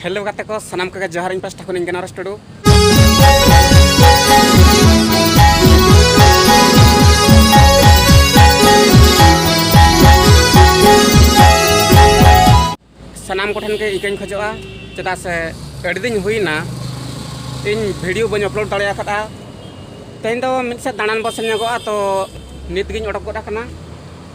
hello ᱜᱟᱛᱮ ᱠᱚ ᱥᱟᱱᱟᱢ ᱠᱚᱜᱮ ᱡᱚᱦᱟᱨ ᱤᱧ ᱯᱟᱥᱴᱟ ᱠᱷᱚᱱᱤᱧ ᱜᱟᱱᱟᱨᱚᱥ ᱴᱩᱰᱩ ᱥᱟᱱᱟᱢ ᱠᱚᱴᱷᱮᱱ ᱜᱮ ᱤᱠᱟᱹᱧ ᱠᱷᱚᱡᱚᱜᱼᱟ ᱪᱮᱫᱟᱜ ᱥᱮ ᱟᱹᱰᱤ ᱫᱤᱱ ᱦᱩᱭᱱᱟ ᱤᱧ ᱵᱷᱤᱰᱤᱭᱳ ᱵᱟᱹᱧ ᱟᱯᱞᱳᱰ ᱫᱟᱲᱮ ᱟᱠᱟᱫᱟ ᱛᱮᱦᱮᱧ ᱫᱚ ᱢᱤᱫ ᱥᱮᱫ ᱫᱟᱬᱟᱱ ᱵᱚ ᱥᱮᱱ ᱧᱚᱜᱚᱜᱼᱟ ᱛᱚ ᱱᱤᱛ ᱜᱤᱧ ᱚᱰᱚᱠ ᱜᱚᱫ ᱟᱠᱟᱱᱟ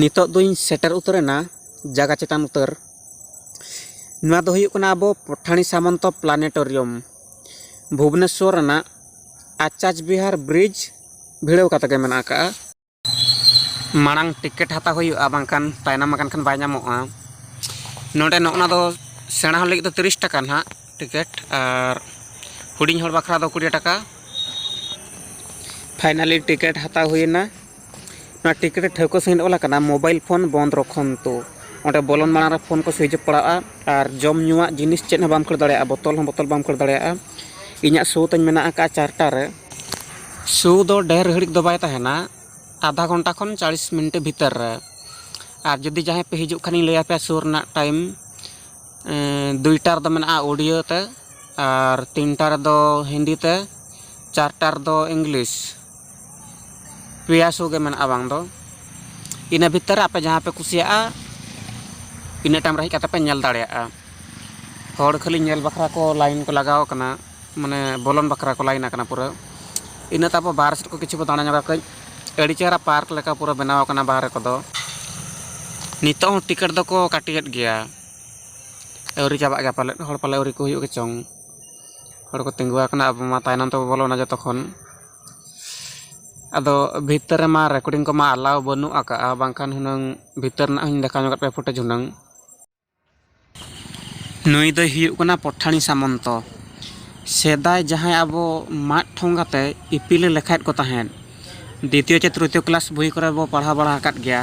ᱱᱤᱛᱚᱜ ᱫᱚᱧ ᱥᱮᱴᱮᱨ ᱩᱛᱟᱹᱨᱮᱱᱟ ᱡᱟᱭᱜᱟ ᱪᱮᱛᱟᱱ ᱩᱛᱟᱹᱨ ᱱᱚᱣᱟ ᱫᱚ ᱦᱩᱭᱩᱜ ᱠᱟᱱᱟ ᱟᱵᱚ ᱯᱚᱴᱷᱟᱬᱤ ᱥᱟᱢᱚᱱᱛᱚ ᱯᱞᱟᱱᱮᱴᱳᱨᱤᱭᱚᱢ ᱵᱷᱩᱵᱽᱱᱮᱥᱥᱚᱨ ᱨᱮᱱᱟᱜ ᱟᱪᱟᱡᱽ ᱵᱤᱦᱟᱨ ᱵᱨᱤᱡᱽ ᱵᱷᱤᱲᱟᱹᱣ ᱠᱟᱛᱮ ᱜᱮ ᱢᱮᱱᱟᱜ ᱟᱠᱟᱫᱼᱟ ᱢᱟᱲᱟᱝ ᱴᱤᱠᱮᱴ ᱦᱟᱛᱟᱣ ᱦᱩᱭᱩᱜᱼᱟ ᱵᱟᱝᱠᱷᱟᱱ ᱛᱟᱭᱱᱚᱢ ᱟᱠᱟᱱ ᱠᱷᱟᱱ ᱵᱟᱭ ᱧᱟᱢᱚᱜᱼᱟ ᱱᱚᱰᱮ ᱱᱚᱜᱼᱚ ᱱᱟ ᱫᱚ ᱥᱮᱬᱟ ᱦᱚᱲ ᱞᱟᱹᱜᱤᱫ ᱫᱚ ᱛᱤᱨᱤᱥ ᱴᱟᱠᱟ ᱱᱟᱦᱟᱜ ᱴᱤᱠᱮᱴ ᱟᱨ ᱦᱩᱰᱤᱧ ᱦᱚᱲ ᱵᱟᱠᱷᱨᱟ ᱫᱚ ᱠᱩᱲᱤ ᱴᱟᱠᱟ ᱯᱷᱟᱭᱱᱟᱞᱤ ᱴᱤᱠᱮᱴ ᱦᱟᱛᱟᱣ ᱦᱩᱭᱮᱱᱟ ᱱᱚᱣᱟ ᱴᱤᱠᱤᱴ ᱨᱮ ᱴᱷᱟᱹᱣᱠᱟᱹ ᱥᱟᱺᱦᱤᱡ ᱚᱞ ᱟᱠᱟᱱᱟ ᱢᱳᱵᱟᱭᱤᱞ ᱯᱷᱳᱱ ᱵᱚᱱᱫᱽ ᱨᱚᱠᱷᱚᱱᱛᱩ ᱚᱸᱰᱮ ᱵᱚᱞᱚᱱ ᱢᱟᱲᱟᱝ ᱨᱮ ᱯᱷᱳᱱ ᱠᱚ ᱥᱩᱭᱤᱪ ᱚᱯᱷ ᱯᱟᱲᱟᱜᱼᱟ ᱟᱨ ᱡᱚᱢ ᱧᱩᱣᱟᱜ ᱡᱤᱱᱤᱥ ᱪᱮᱫ ᱦᱚᱸ ᱵᱟᱢ ᱠᱷᱟᱹᱲ ᱫᱟᱲᱮᱭᱟᱜᱼᱟ ᱵᱚᱛᱚᱞ ᱦᱚᱸ ᱵᱚᱛᱚᱞ ᱵᱟᱢ ᱠᱷᱟᱹᱲ ᱫᱟᱲᱮᱭᱟᱜᱼᱟ ᱤᱧᱟᱹᱜ ᱥᱳ ᱛᱤᱧ ᱢᱮᱱᱟᱜ ᱟᱠᱟᱫᱼᱟ ᱪᱟᱨᱴᱟ ᱨᱮ ᱥᱳ ᱫᱚ ᱰᱷᱮᱨ ᱜᱷᱟᱹᱲᱤᱡ ᱫᱚ ᱵᱟᱭ ᱛᱟᱦᱮᱱᱟ ᱟᱫᱷᱟ ᱜᱷᱚᱱᱴᱟ ᱠᱷᱚᱱ ᱪᱟᱞᱤᱥ ᱢᱤᱱᱤᱴ ᱵᱷᱤᱛᱤᱨ ᱨᱮ ᱟᱨ ᱡᱩᱫᱤ ᱡᱟᱦᱟᱸᱭ ᱯᱮ ᱦᱤᱡᱩᱜ ᱠᱷᱟᱱᱤᱧ ᱞᱟᱹᱭ ᱟᱯᱮᱭᱟ ᱥᱳ ᱨᱮᱱᱟᱜ ᱴᱟᱭᱤᱢ ᱫᱩᱭᱴᱟ ᱨᱮᱫᱚ ᱢᱮᱱᱟᱜᱼᱟ ᱩᱰᱤᱭᱟᱹ ᱛᱮ ᱟᱨ ᱛᱤᱱᱴᱟ ᱨᱮᱫᱚ ᱦᱤᱱᱫᱤ ᱛᱮ ᱪᱟᱨᱴᱟ ᱨᱮᱫᱚ ᱤᱝᱞᱤᱥ ᱯᱮᱭᱟ ᱥᱳ ᱜᱮ ᱢᱮᱱᱟᱜᱼᱟ ᱵᱟᱝ ᱫᱚ ᱤᱱᱟᱹ ᱵᱷᱤᱛᱤᱨ ᱨᱮ ᱟᱯᱮ ᱡᱟᱦᱟᱸ ᱯᱮ ᱠᱩᱥᱤᱭᱟᱜᱼᱟ ᱤᱱᱟᱹ ᱴᱟᱭᱤᱢ ᱨᱮ ᱦᱮᱡ ᱠᱟᱛᱮᱫ ᱯᱮ ᱧᱮᱞ ᱫᱟᱲᱮᱭᱟᱜᱼᱟ ᱦᱚᱲ ᱠᱷᱟᱹᱞᱤ ᱧᱮᱞ ᱵᱟᱠᱷᱨᱟ ᱠᱚ ᱞᱟᱭᱤᱱ ᱠᱚ ᱞᱟᱜᱟᱣ ᱠᱟᱱᱟ ᱢᱟᱱᱮ ᱵᱚᱞᱚᱱ ᱵᱟᱠᱷᱨᱟ ᱠᱚ ᱞᱟᱭᱤᱱ ᱠᱟᱱᱟ ᱯᱩᱨᱟᱹ ᱤᱱᱟᱹ ᱛᱟᱨᱯᱚᱨ ᱵᱟᱦᱨᱮ ᱥᱮᱫ ᱠᱚ ᱠᱤᱪᱷᱩ ᱠᱚ ᱫᱟᱬᱟ ᱧᱚᱜᱟ ᱠᱟᱹᱡ ᱟᱹᱰᱤ ᱪᱮᱦᱨᱟ ᱯᱟᱨᱠ ᱞᱮᱠᱟ ᱯᱩᱨᱟᱹ ᱵᱮᱱᱟᱣ ᱠᱟᱱᱟ ᱵᱟᱦᱨᱮ ᱠᱚᱫᱚ ᱱᱤᱛᱚᱜ ᱦᱚᱸ ᱴᱤᱠᱤᱴ ᱫᱚᱠᱚ ᱠᱟᱹᱴᱤᱭᱮᱫ ᱜᱮᱭᱟ ᱟᱹᱣᱨᱤ ᱪᱟᱵᱟᱜ ᱜᱮᱭᱟ ᱯᱟᱞᱮᱫ ᱦᱚᱲ ᱯᱟᱞᱮ ᱟᱹᱣᱨᱤ ᱠᱚ ᱦᱩᱭᱩᱜ ᱜᱮᱪᱚᱝ ᱦᱚᱲ ᱠᱚ ᱛᱤᱸᱜᱩ ᱟᱠᱟᱱᱟ ᱟᱵᱚ ᱢᱟ ᱛᱟᱭᱱᱚᱢ ᱛᱮᱵᱚ ᱵᱚᱞᱚᱱᱟ ᱡᱚᱛᱚ ᱠᱷᱚᱱ ᱟᱫᱚ ᱵᱷᱤᱛᱟᱹᱨ ᱨᱮᱢᱟ ᱨᱮᱠᱳᱰᱤᱝ ᱠᱚᱢᱟ ᱮᱞᱟᱣ ᱵᱟᱹᱱᱩᱜ ᱟᱠᱟᱫᱼᱟ ᱵᱟᱝᱠᱷᱟᱱ ᱦᱩᱱᱟᱹᱝ ᱵᱷᱤᱛᱟᱹᱨ ᱨᱮᱱᱟᱜ ᱦᱚᱧ ᱫᱮᱠᱷᱟᱣ ᱧᱚᱜ ᱟᱯᱮ ᱯᱷᱩᱴᱮᱡᱽ ᱦᱩᱱᱟᱹᱝ ᱱᱩᱭ ᱫᱚᱭ ᱦᱩᱭᱩᱜ ᱠᱟᱱᱟ ᱯᱚᱴᱷᱟᱬᱤ ᱥᱟᱢᱚᱱᱛᱚ ᱥᱮᱫᱟᱭ ᱡᱟᱦᱟᱸᱭ ᱟᱵᱚ ᱢᱟᱫ ᱴᱷᱚᱸᱜᱟ ᱛᱮ ᱤᱯᱤᱞᱮ ᱞᱮᱠᱷᱟᱭᱮᱫ ᱠᱚ ᱛᱟᱦᱮᱸᱫ ᱫᱤᱛᱤᱭᱚ ᱪᱮ ᱛᱨᱤᱛᱤᱭᱚ ᱠᱞᱟᱥ ᱵᱳᱭ ᱠᱚᱨᱮ ᱵᱚ ᱯᱟᱲᱦᱟᱣ ᱵᱟᱲᱟ ᱟᱠᱟᱫ ᱜᱮᱭᱟ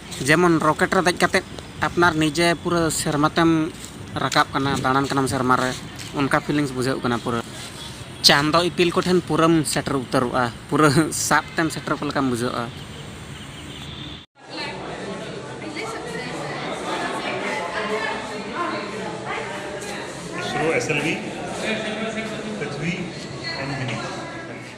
ᱡᱮᱢᱚᱱ ᱨᱚᱠᱮᱴ ᱨᱮ ᱫᱮᱡ ᱠᱟᱛᱮᱫ ᱟᱯᱱᱟᱨ ᱱᱤᱡᱮ ᱯᱩᱨᱟᱹ ᱥᱮᱨᱢᱟ ᱛᱮᱢ ᱨᱟᱠᱟᱵ ᱠᱟᱱᱟ ᱫᱟᱬᱟᱱ ᱠᱟᱱᱟᱢ ᱥᱮᱨᱢᱟ ᱨᱮ ᱚᱱᱠᱟ ᱯᱷᱤᱞᱤᱝᱥ ᱵᱩᱡᱷᱟᱹᱜ ᱠᱟᱱᱟ ᱯᱩᱨᱟᱹ ᱪᱟᱸᱫᱚ ᱤᱯᱤᱞ ᱠᱚᱴᱷᱮᱱ ᱯᱩᱨᱟᱹᱢ ᱥᱮᱴᱮᱨ ᱩᱛᱟᱹᱨᱚᱜᱼᱟ ᱯᱩᱨᱟᱹ ᱥᱟᱵ ᱛᱮᱢ ᱥᱮᱴᱮᱨ ᱠᱚ ᱞᱮᱠᱟᱢ ᱵᱩᱡᱷᱟᱹᱜᱼᱟ ᱥᱩᱨᱩ ᱮᱥᱮᱞ ᱜᱮ